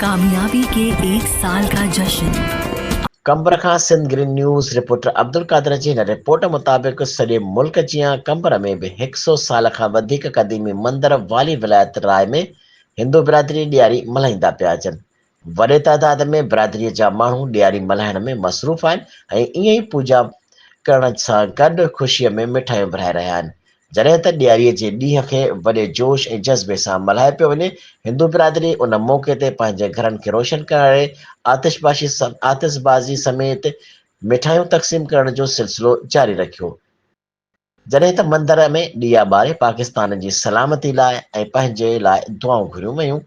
ڪاميابي ڪي ايڪ سال ڪا جشن. قمبر کان Sindh green news reporter Abdulqadir جي هن رپورٽ مطابق سڄي ملڪ جيان قمبر ۾ به هڪ سئو سال کان وڌيڪ قديمي مندر والي ولايت راء ۾ هندو برادري ڏياري ملهائيندا پيا اچن وڏي تعداد ۾ برادريء جا ماڻهو ڏياري ملهائڻ ۾ مصروف آهن ۽ ائين ئي پوڄا ڪرڻ سان گڏ خوشيء ۾ مٺايون ورهائي رهيا آهن. جڏهن ته ڏياريء جي ڏينهن کي وڏي جوش ۽ جذبي سان ملهايو پيو وڃي، هندو برادري ان موقعي تي پنهنجي گهرن کي روشن ڪرڻ ۽ آتشباشي آتشبازي سميت مٺايون تقسيم ڪرڻ جو سلسلو جاري رکيو، جڏهن ته مندر ۾ ڏيئا ٻاري پاڪستان جي سلامتي لاء ۽ پنهنجي لاء دعائون گهريون ويون.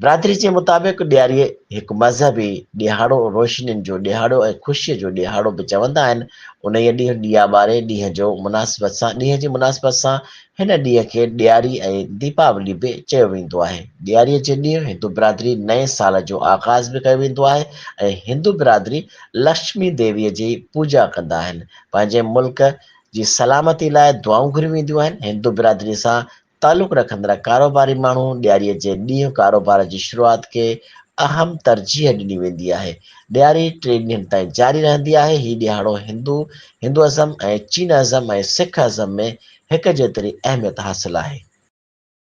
برادري جي مطابق ڏياري هڪ مذهبي ڏيهاڙو، روشنين جو ڏيهاڙو ۽ خوشيء جو ڏيهاڙو به چوندا آهن. انهيء ڏينهن ڏيئا ٻاري ڏينهن جو مناسبت سان ڏينهن جي مناسبت سان هن ڏينهن کي ڏياري ۽ ديپاولي به چيو ويندو آهي. ڏياري جي ڏينهن هندو برادري نئين سال جو آغاز به ڪيو ويندو آهي ۽ هندو برادري لڪشمي ديويء جي پوڄا ڪندا آهن. پنهنجي ملڪ جي سلامتي لاء دعائون گهريون وينديون آهن. هندو برادري سان تعلق رکندڙ ڪاروباري ماڻهو ڏياري جي ڏينهن ڪاروبار جي شروعات کي اهم ترجيح ڏني ويندي آهي. ڏياري ٽي ڏينهن تائين جاري رهندي آهي. هي ڏيهاڙو هندو، Hinduism، ۽ چين ازم ۽ سک ازم ۾ هڪ جيتري اهميت حاصل آهي.